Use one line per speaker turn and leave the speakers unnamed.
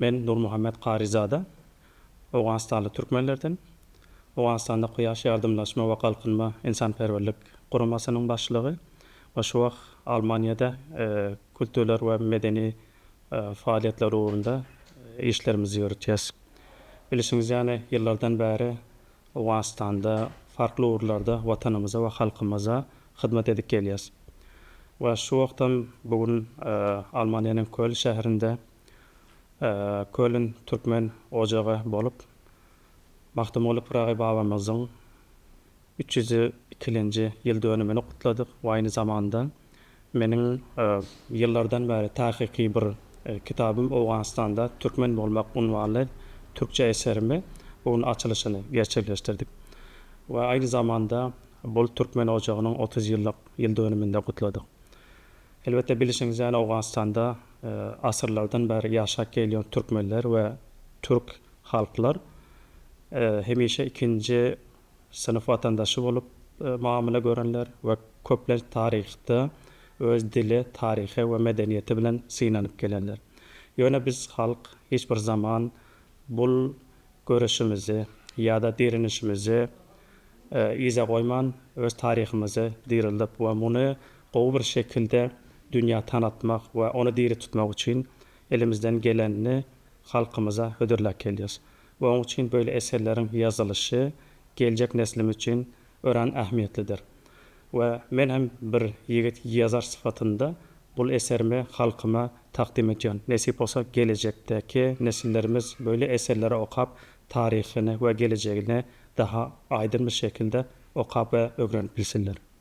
Men Nurmuhammet Karizada, owganystanly türkmenlerden. Owganystanda Kuýaş ýardymlaşma we galkynma ynsanperwerlik guramasynyň başlygy we şu wagt Almaniýada kulturlar we medeni faaliýetler ugrunda işlerimizi ýöretýäs. Bilişiňiz ýaly, ýyllardan bäri Owganystanda farkly ugurlarda Watanymyza we halkymyza hyzmat edip gelýäs. We şu wagtam bu gün Almaniýanyň Köln şäherinde Kölün türkmen ojagy bolup, Magtymguly Pyragy babamyzyň üç ýüz ikilenji ýyl dönümini gutladyk we aýny zamanda meniň ýyllardan bäri takyky bir kitabym Owganystanda türkmen bolmak unwanly türkçe eserimi bu gün açylyşyny gerçekleşdirdik we aýny zamanda bul türkmen ojagynyň otuz ýyllyk ýyl dönümini-de gutladyk. Elbetde bilişiňiz ýaly Owganystanda asyrlardan bäri ýaşap gelýän türkmenler we türk halklar hemişe ikinji synp watandaşy bolup mamyla görenler we köplenç taryhda öz dili, taryhy we medeniýeti bilen synanyp gelenler. Ýöne biz halk hiç bir zaman bul Göreşimizi ýa-da direnişimizi yza goýman, öz taryhymyzy dirildip we muny gowy bir şekilde dünýä tanatmak we ony diri tutmak üçin elimizden gelenini halkymyza hödürläp gelýäris. We oň üçin böyle eserleriň ýazylyşy geljek neslimiz üçin örän ähmiýetlidir we men hem bir ýigit ýazar sypatynda bul eserimi halkyma takdym edýän. Nesip bolsa gelejekdäki nesillerimiz böyle eserleri okap taryhyny we gelejegini daha aýdyn bir şekilde okap we ögrenip bilsinler.